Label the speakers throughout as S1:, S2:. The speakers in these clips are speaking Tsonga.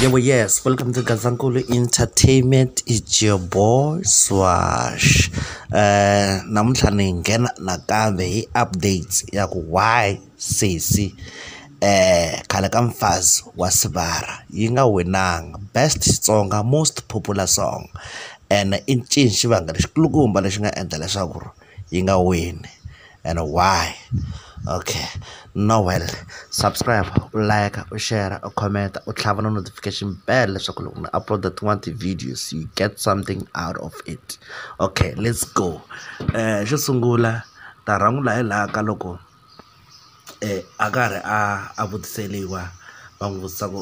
S1: Yebo, yes. Welcome to Gazankulu Entertainment. It's your boy Swash. Eh namuntlha ni nghena nakambe hi updates ya ku why sesi eh khale ka mfazi wa Sibara yi nga winanga best Xitsonga most popular song and i ncini xivangelo xikulukumba lexi nga endla leswaku yi nga wini and why okay Noel subscribe u like u share u comment u tlhava na notification bell leswaku loko ni upload tin'wana ti-videos you get something out of it okay let's go xo sungula ta rhangula hi laha ka loko a karhi a a vutiseriwa va n'wi vutisa ku .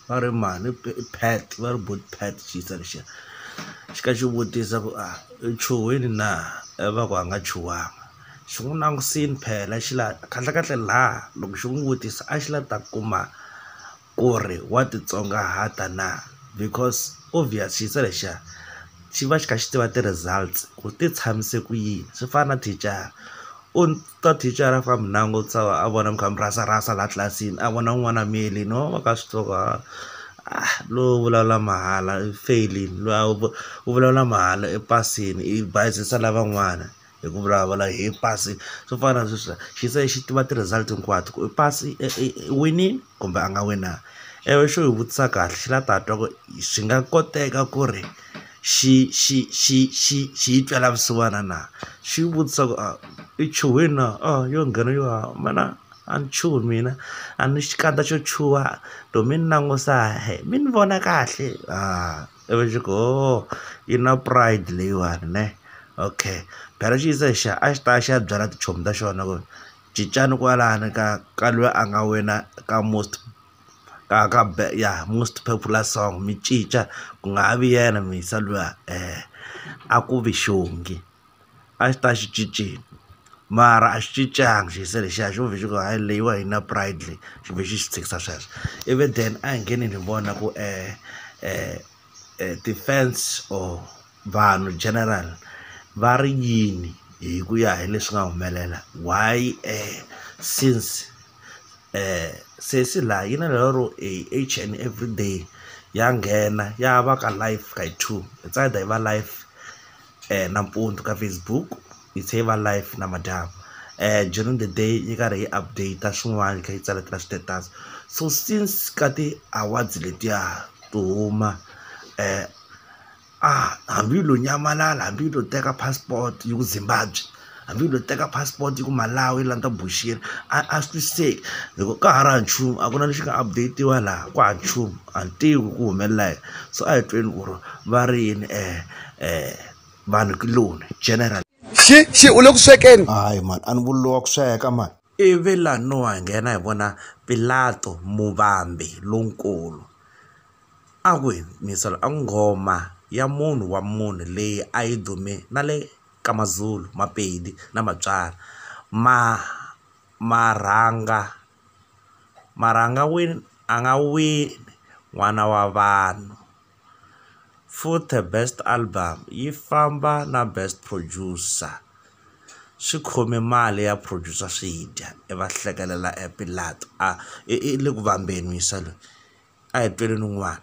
S1: va ri mhani i pet va ri but pet xiyisa lexiya xi ka xi vutisa ku a i chuhile na ivi va ku a nga chuhangi xi n'wi langutisile phela xi la kahlekahle laha loko xi n'wi vutisa a xi la ta kuma ku ri wa titsongahata na because obvious xiyisa lexiya xi va xi kha xi tiva ti-results ku ti tshamise ku yini swi fana na thicara u. Ka thicara a famba na a ngo tshama a vona mikhamu rasa rasa laha tlilasini a vona n'wana a miyele no va ka swi tiva ku lowu vulavula mahala i feyilini loyi a wu vulavula mahala i pasini i bayizisa lavan'wana hi ku vulavula hi pasi swo fana na sweswiya xi se xi tiva ti-result hinkwato ku i pasi i winile. kumbe a nga wina ewe xo yi vutisa kahle xi la ta twa ku swi nga koteka ku ri xi xi xi xi xi yi twela vusiwana na xi yi vutisa ku a i chuhile na a yo nghena yo haha mana a ni chuhi mina a ni xikandza xo chuha to mi ni langusa hee mi ni vona kahle a ivi xi ku hoo yi na pride leyiwani ne okay phela xi yisa hi xa a xi ta ya xi ya byela tichomi ta xona ku. Cincani kwalani ka ka lweyi a nga wina ka most ka ka ya most popular song mi cinca ku nga ha vi yena Muyisa luya a ku vi xongi a xi ta xi cinceni mara a xi cincanga xi se lexiya xo ve xi ku hayi leyiwa a yi na pride leyi xi ve xi xi tshikisa sweswo ivi then a hi ngeneni hi vona ku . ti-fans or vanhu general va ri yini hi ku ya hi leswi nga humelela why since sesi laha yi na lero e each and everyday ya nghena ya va ka live ka yi two hi va live. nampundzu ka Facebook yi tlhe yi va live namadyambu during the day yi karhi yi update swin'wana yi kha yi tsaletela status so since ka ti-awards letiya to huma a hambi yi lo nyamalala hambi yi lo teka passport yi ku Zimbabwe. hambi u lo teka passport ku malawi la ni ta boxiwa a a swi twisiseki hi ku ka ha ri hava nchumu a ku na lexi nga update-iwa laha ku hava nchumu a ni tivi ku humelela yini so a hi tweni ku ri va ri yini vanhu kuloni general xi xi u le
S2: ku swekeni hayi mani a ni vuriwa
S1: ku sweka mani ivi laha no ha nghena hi vona pilato muvambi lonkulu a ku yini yingisela a nghoma ya munhu wa munhu leyi a yi dume na le. ka Mazulu, Mapedi na Matswana ma ma rhanga ma rhanga wini a nga wini n'wana wa vanhu futhe best album yi famba na best producer swi khome mali ya producer swi dya i va hlekelela a i le ku vambeni muyisa loyi a hi tweleni un'wana.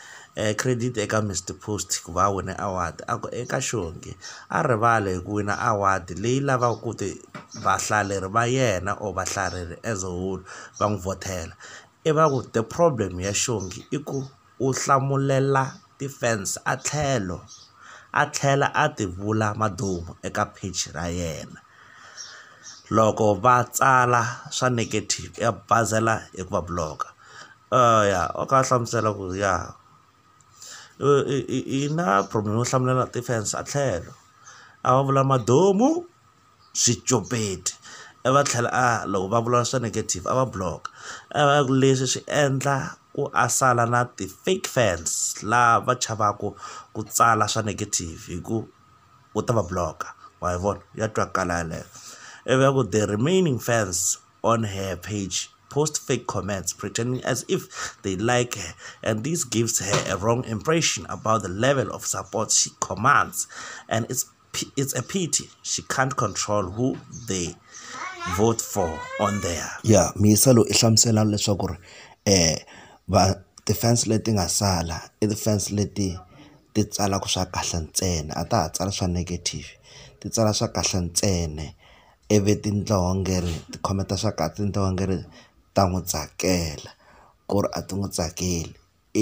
S1: credit eka Mister Post ku va a wine award a ku eka xongi a rivala hi ku wina award leyi lavaka ku ti vahlaleri va yena or vahlaleri as a whole va n'wi vhothela i va ku the problem ya xongi i ku u hlamulela ti-fans a tlhelo a tlhela a ti vula maduma eka page ra yena loko va tsala swa negative ya bazela hi ku va block-a. ya a kha a hlamusela ku ri ya i na problem yo hlamulela defence a tlhelo a va vula madamu swicopeti i va tlhela a loko va vula swa negative a va block a va ku leswi swi endla ku a sala na ti fake fans laha va chavaku ku tsala swa negative hi ku u ta va block-a wa yi vona ya twakala yeleyo ivi a ku the remaining fans. on her page post fake comments pretending as if they like her and this gives her a wrong impression about the level of support she commands and it's it's a pity she can't control who they vote for on there yeah misa lo i hlamusela leswaku ri eh va ti-fans leti nga sala i ti-fans leti ti tsalaka swa kahle ntsena a ta ha tsala swa negative ti tsala swa kahle ntsena ivi tinhlonge ri ti khometa swa kahle tinhlonge ri ta n'wi tsakela ku ri a ti n'wi tsakeli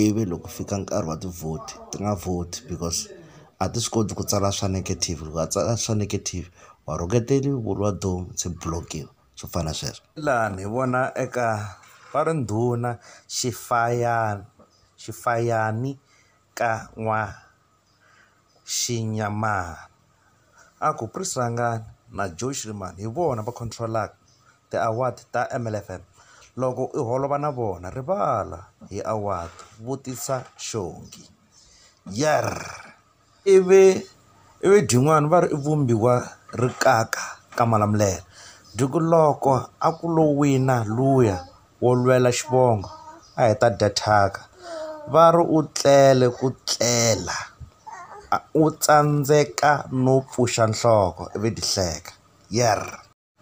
S1: ivi loko fika nkarhi wa tivhoti ti nga vhoti because a ti swi koti ku tsala swa negative loko a tsala swa negative wa rhuketeriwa u ri wa dooh se block-iwa swo fana na sweswo. Laha ni vona eka va ri ndhuna xifayana xifayani ka . xinyamana. A ku Prys Rangane na Joe Schriman hi vona va control-aka ti-award ta M_L_F_M. Loko u holova na vona rivala hi award, vutisa xongi. Yerr! Ivi ivi byin'wana va ri i vumbiwa rixaka ka Malamulele. Loko a ku lo wina luya wo lwela xivongo a hi ta dya thyaka va ri u tlele ku tlela a u tsandzeka no pfuxa nhloko ivi ti hleka yerr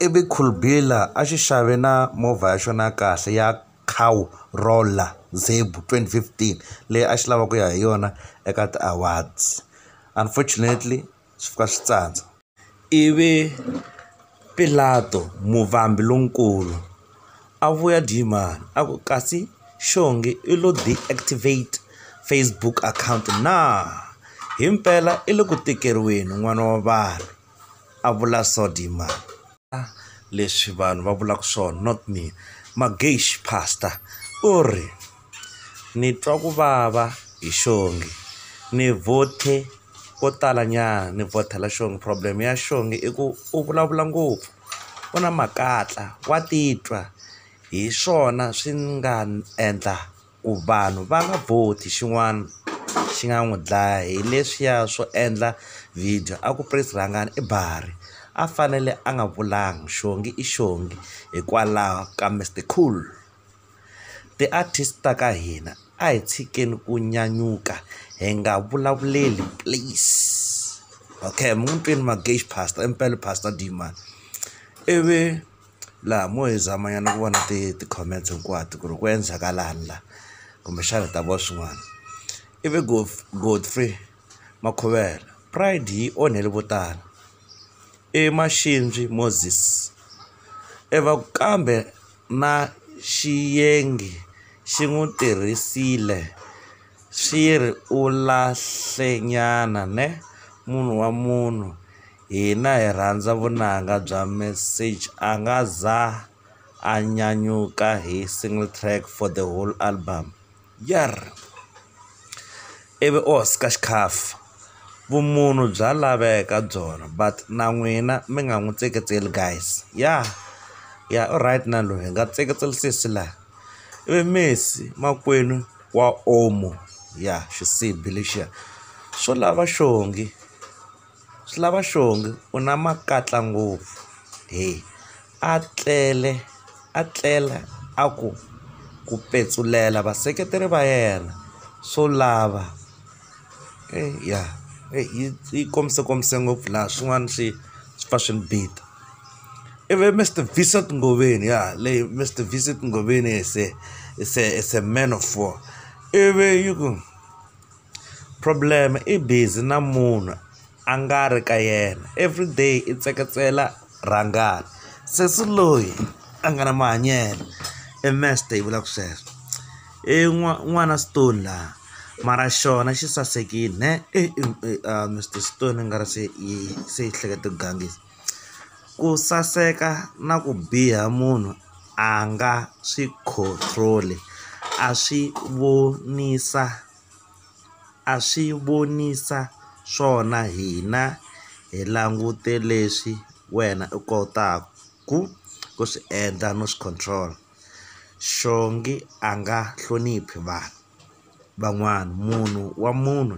S1: ivi khulbila a xi xave na movha ya xona ya kahle ya cow rolla zebhu twenty fifteen leyi a xi lava ku ya hi yona eka ti-awards unfortunately swi fika swi tsandza. Ivi Pilato, muvambi lonkulu, a vuya Jarimani, a ku, Kasi xonghwe u lo deactivate Facebook account na? Himpela i le ku tikeriweni, n'wana wa vanhu! a vula Jarimani. leswi vanhu va vulaka swona not me Magesh pastor u ri ni twa ku vava hi xongi ni vhothe ko tala nyana ni vhothela xongi problem ya xongi i ku u vulavula ngopfu u na makatla wa titwa hi swona swi nga endla. ku vanhu va nga vhoti xin'wana xi nga n'wi dlaya hi leswiya swo endla video a ku prince rhangani i bari a fanele a nga vulanga xongi i xongi hikwalaho ka mister cool ti-artist ta ka hina a hi tshikeni ku nyanyuka hi nga vulavuleli please okay mun'wini mpimo pastor impela pastor dmani ivi. Laha mo hi zama nyana ku vona ti ti-comments hinkwato ku ri ku endlhakalani la kumbexana hi ta vona swin'wana i vi Godfrey Makhuvela pride yi onhele vo tala i Maxindzi Moses i va ku kambe na Xiyengi xi n'wi tirhisile xi ri u lahle nyana ne munhu wa munhu. Hina hi rhandza vunanga bya Message a nga za a nyanyuka hi single track for the whole album. Yarr! Ivi u hoxa xikhaffa. Vumunhu bya laveka byona but na n'wina mi nga n'wi tseketseli guys. Ya ya u right na loyi hi nga tseketseli sesi la. Ivi Messi makwenu wa Omo ya xisibi lexiya xo lava xongi. Swi lava xongi u na makatla ngopfu he a tlele a tlela a ku ku petsulela vaseketeri va yena swo lava eyi ya eyi yi yi komisakomise ngopfu laha swin'wana swi swi pfa swi ni bita ivi Mister Vincent Ngobeni ya leyi Mister Vincent Ngobeni se se se man of war ivi yi ku. Problem i busy na munhu a nga ri ka yena everyday i tseketsela rhangana sesi loyi a nga na mahanyelo i masta yi vulaka sweswo i n'wana stone la mara xona xi sasekile neh i Mister stone i nga ri se i se i hleketa ku gangisa. Ku saseka na ku biha munhu a nga swi control-i a swi vonisa a swi vonisa swona hina hi langute leswi wena u kotaku ku swi endla no swi control-a xongi a nga hloniphi vanhu van'wana munhu wa munhu.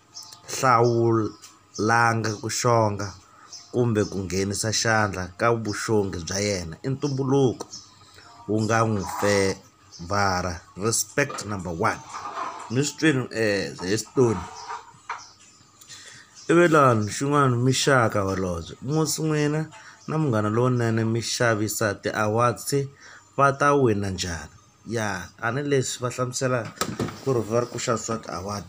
S1: hlawulanga ku xonga kumbe ku nghenisa xandla ka vuxongi bya yena i ntumbuluko wu nga n'wi fevhara respect number one ni swi twini he Stone i ve lani xin'wani muxaka holobye musi n'wina na munghana lowunene mi xavisa ti-awards va ta wina njhani. ya tanihileswi va hlamuselaka ku ri va ri ku xavisa swa ti-award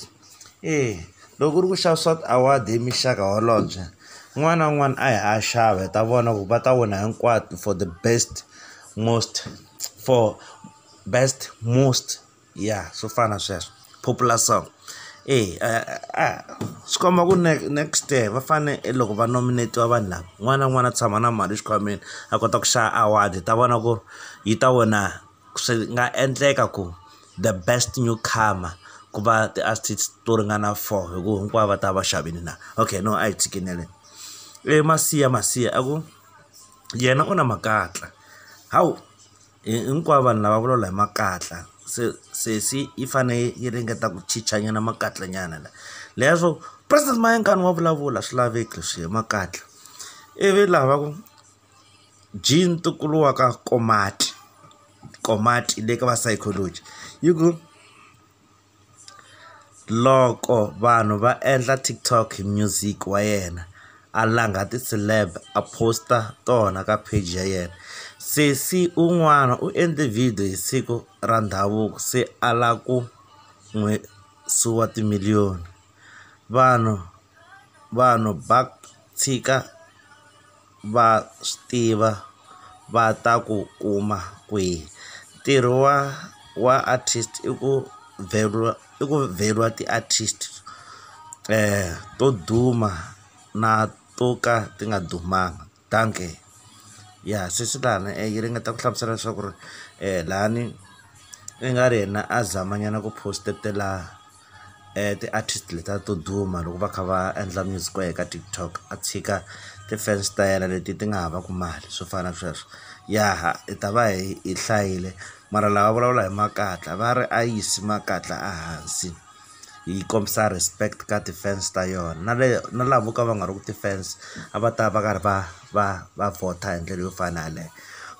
S1: eya loko ku ri ku xavisa swa ti-award hi muxaka holobye un'wana na un'wana a ya a ya xava hi ta vona ku va ta wina hinkwato for the best most for best most ya swo fana na sweswo. popular song e swi komba ku next year va fane e loko va nominate-iwa vanhu lava un'wana na un'wana a tshama na mali exikhwameni a kota ku xava award hi ta vona ku yi ta wina swi nga endleka ku the best new comer ku va ti-artists to ringana four hi ku hinkwavo va ta va xavile na okay no a hi tshikeleleni e masiya masiya a ku yena u na makatla hawu. Hinkwavo vanhu lava vulavula hi makatla se sesi yi fane yi ringeta ku chicha nyana makatla nyana la leya swo president Mayengani wa vulavula a swi laveki leswi hi makatla ivi laha va ku Jean ntukulu wa ka Komati Komati le ka va psychology yi ku. Loko vanhu va endla TikTok hi music wa yena, a langa ti-celeb a post-a tona ka page ya yena. Sesi un'wana u endle video hi siku ra ndhavuko se a lava ku n'wi suwa ti-million. Vanhu vanhu va tshika. va swi tiva va ta ku kuma kwihi ntirho wa wa artist i ku i ku vheriwa ti-artist to duma na to ka ti nga dumanga dankie ya sesi lani yi ringeta ku hlamusela leswaku ri lani i nga ri yena a zama nyana ku post-etela. ti-artist letiya to duma loko va kha va endla music wa ye ka TikTok a tshika ti-fans ta yena leti ti nga havaku mali swo fana na sweswo ya hi ta va hi hi hlayile mara lava vulavula hi makatla va ri a yisi makatla a hansi yi kombisa respect ka ti-fans ta yona na le na lavo ka va nga ri ku ti-fans a va ta va karhi va va va vhotha hi ndlela yo fana na yaleyo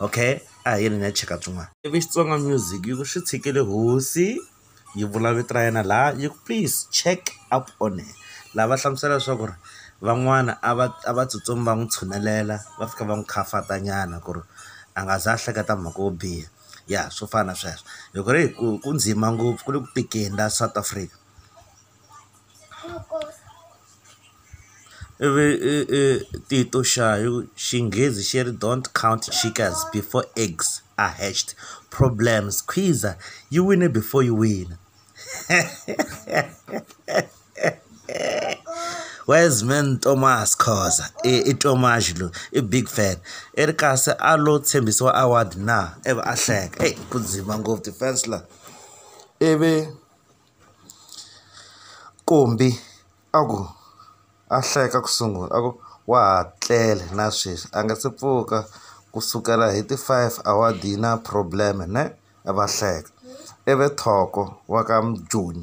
S1: okay a hi yeni hi ya cheka swin'wana ivi Xitsonga music yi ku swi tshikile hosi. yi vula vito ra yena laha yi ku please check up on her laha va hlamusela leswaku ri van'wana a va a va tsutsumi va n'wi tshunelela va fika va n'wi khafatanyana nyana ku ri a nga za a hleketa mhaka yo biha ya swo fana na sweswo loko ri hi ku ku ndzima ngopfu ku le ku tikeni laha South Africa. I vi i i Tito xa hi ku xinghezi xi ri don't count chickens before eggs are hatched, problems khwiza yi wine before yi wina wise man Thomas Khoza i Thomas loyi i big fan i ri kasi a lo tshembisiwa award na ivi a hleka, eyi ku dzima ngopfu ti-fans la ivi. Kombi a ku a hleka ku sungula a ku wa ha tlele na sweswi a nga se pfuka ku sukela hi ti five a wa dyi na problem ne a va hleka ivi Thoko wa ka Mujoni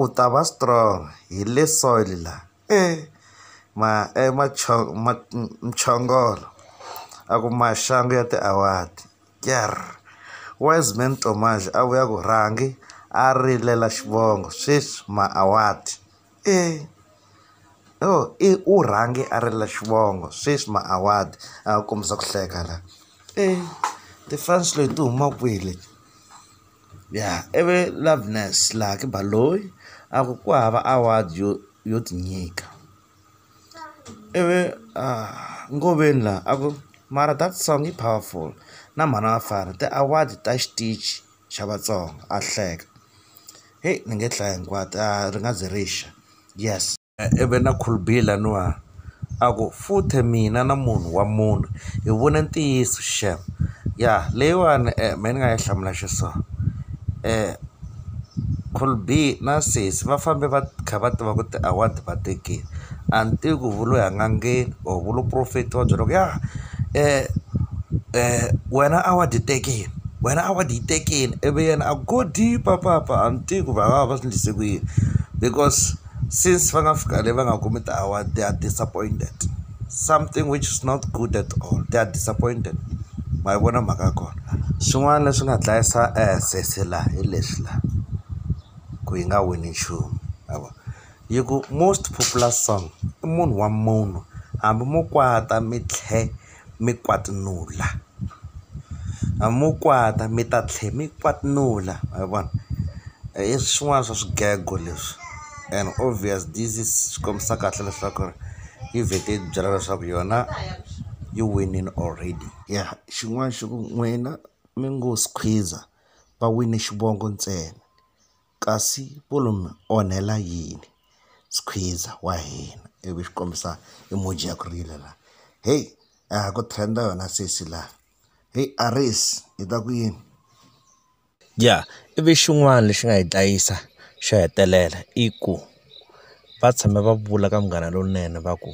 S1: u ta va strong hi le soil la. e ma e muchongolo a ku maxangu ya ti-award Wiseman Tomas a vuya ku rhangi a rilela xivongo sweswi ma-award i u rhange a rila xivongo sweswi ma-award a kombisa ku hleka la ti-fans leti huma kwihi leti. Ya ivi Loveness Lucky Baloyi a ku ku hava award yo yo ti nyika ivi a Ngoveni la a ku mara that song yi powerful na mhani wa vafana ti-award ta xitichi xa Vatsonga a hleka heyi ni nge hlayi hinkwato a ri nga ze ri xa yes. Ebenakulbihi laniwani a ku futhe mina na munhu wa munhu hi vone ntiyiso shame ya leyiwani mehe ni nga yi hlamula xi so Kolbihi na sesi va fambe va kha va tiva ku ti-award va tekini a ni tivi ku vu lo ya n'angeni or vu lo profetiwa byela ku ya wena award yi tekini wena award yi tekini ivi yena a go deep-a papa a ni tivi ku va nga va va swi endlise ku yini because. since va nga fika le va nga kumi ti-award they are disappointed something which is not good at all they are disappointed ma yi vona mhaka ya kona swin'wana leswi nga dlayisa sesi la hi leswi la ku yi nga wini nchumu ma vo yi ku most popular song i munhu wa munhu hambi mo kwata mi tlhe. mi kwatinula. A mo kwata mi ta tlhela mi kwatinula ma vona. I swin'wana swa swigego leswi and obvious this is swi kombisa kahle leswaku ri yi vhete yi byela leswaku yona yi winile already. Ya xin'wana xi ku n'wina mi ngo squeezer va wine xivongo ntsena. Kasi Pulu mi onhela yini skhwiza wa hina ivi xi kombisa emoji ya ku rila la heyi a ha ku trend-a yona sesi la heyi Aries hi ta ku yini.
S3: Ya ivi xin'wana lexi nga hi dlayisa xo hetelela i ku va tshame va vula ka Munghana Lonene va ku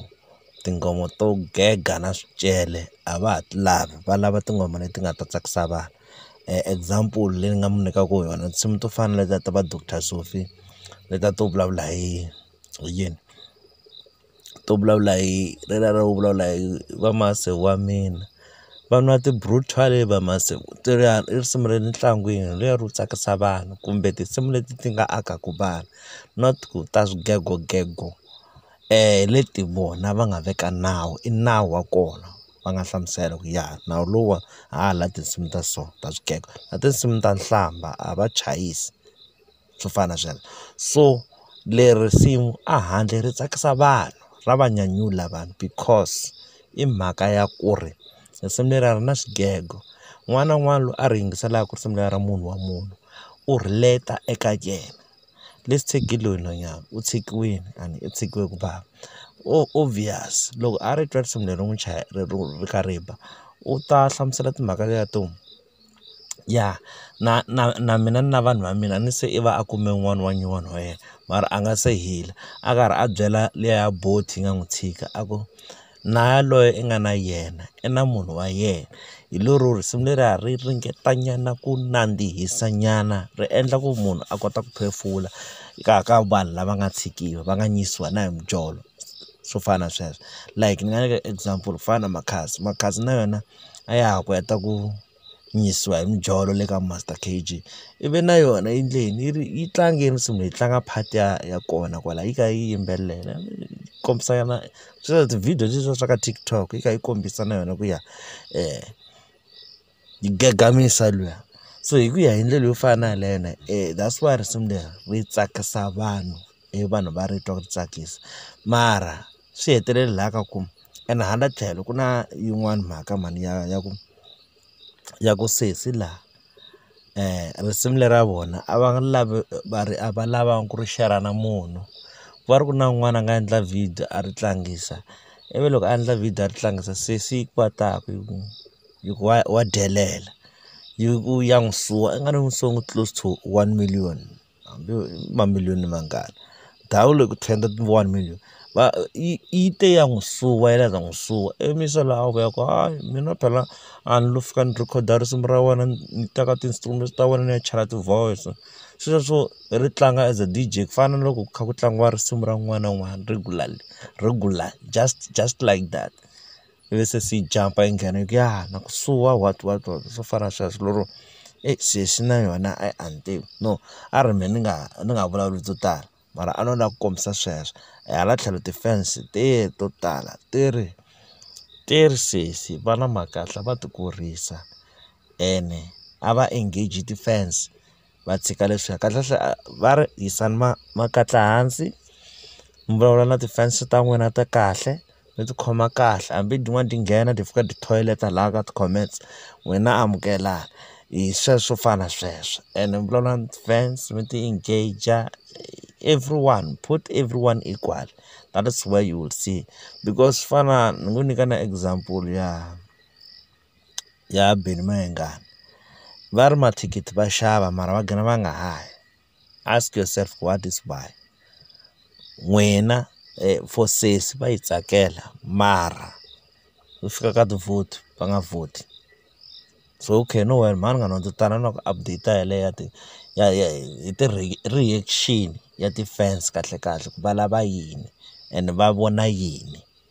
S3: tinghoma to gega na swicele a va ha ti lavi va lava tinghoma leti nga ta tsakisa vanhu. example leyi ni nga mu nyikaka yona tinsimu to fana na letiya ta va Doctor Sophie letiya to vulavula hi hi yini to vulavula hi leriya ro vulavula hi va masi wa mina va nwa ti-brutal va masi leriya i risimu ra le ntlangwini leriya ro tsakisa vanhu kumbe tinsimu leti ti nga akaka vanhu not ku ta swigego gego. hi leti vona va nga veka nawu i nawu wa kona va nga hlamusela ku ya nawu lowa hala tinsimu ta so ta swigego na tinsimu ta nhlamba a va chayisi swo fana na sweswo so leri risimu a handle ri tsakisa vanhu ra va nyanyula vanhu because i mhaka ya ku ri risimu leri a ri na swigego un'wana na un'wana loyi a ri yingiselaka risimu leri ra munhu wa munhu u relate-a eka yena. Let's take hi loyi nhwanyana u tshikiwile a ni u tshikiwe ku bava obvious loko a ri twa risimu leri n'wi ri kha ri ba u ta hlamusela timhaka leti to ya na na na mina na vanhu va mina ni se i va a kume un'wana wa nyuwana wa yena mara a nga se hila a karhi a byela liya ya bolt yi nga n'wi tshika a ku. na yaloye i nga na yena i na munhu wa yena. Hi lero risimu leriya ri ringetanyana ku nandzihisa nyana ri endla ku munhu a kota ku phefula ka ka vanhu lava nga tshikiwa va nga nyisiwi na hi mijolo swo fana na sweswo like ni nga nyika example ku fana na Makhadzi, Makhadzi na yena a ya ha ku heta ku. yisiwa hi mijolo le ka Master K_G ivi na yona yi endle yini yi ri yi tlange yi ri nsimu yi tlanga part ya ya kona kwala yi kha yi yimbelela kombisa na sweswiya ti-video sweswiya swa ka TikTok yi kha yi kombisa na yona ku ya yi gagamisa luya so hi ku ya hi ndlela yo fana na yeleyo na that's why risimu leri ri tsakisa vanhu i vanhu va ri twa ri tsakisa mara swi hetelele laha ka ku ene hala tlhelo ku na yin'wani mhaka mhani ya ya ku ya ku sesi laha risimu lera vona a va lava va ri a va lava ku ri share-ra na munhu ku va ri ku na un'wana a nga endla video a ri tlangisa ivi loko a endla video a ri tlangisa sesi yi kwata ku yi ku yi ku wa wa delela yi ku ya n'wi suwa i nga ri n'wi suwa close to one million. hambi yo mamiliyoni ni mangani ndhawu leyi ku ten one million va yi yi te ya n'wi suwa yi la ku ta n'wi suwa ivi mi se la ku ya ku hayi mina phela a ni lo fika ni rhekhoda risimu ra wena ni teka ti-instrument ta wena ni ya chela ti-voice sweswo ri tlanga as a D_J ku fana na loko ku kha ku tlangiwa risimu ra un'wana na un'wana regularly regular just just like that. ivi se swi yi jampa yi nghena yi ku ya na ku suwa what what what swo fana na sweswo lero eyi se swi na yona a a ni tivi no a ri mehe ni nga ni nga vulavuli byo tala mara a no lava ku kombisa sweswo hala tlhelo ti-fans te to tala ti ri ti ri sesi va na mhaka va ti kurisa ene a va engage ti-fans. va tshika leswiya kahlekahle a va ri yisani ma makatla hansi mi vulavula na ti-fans-i ta n'wina ta kahle mi tikhoma kahle hambi tin'wana ti nghena ti fika ti toilet-a laha ka ti-comments n'wina amukelani hi sweswo swo fana na sweswo ene mi vulavula na ti-fans mi ti engage-a everyone put everyone equal that is where you will see because swi fana na ni ngo nyika na example ya. ya Benny Mayengani va ri mathikithi va xava mara va gina va nga ha yi ask yourself what is why n'wina for sesi va yi tsakela mara ku fika ka ti-vote va nga vhoti so okay no worry mhani munghana ndzi ta na na ku update yeleyo ya ti ya ya hi ti-reaction ya ti-fans kahlekahle ku va lava yini and va vona yini.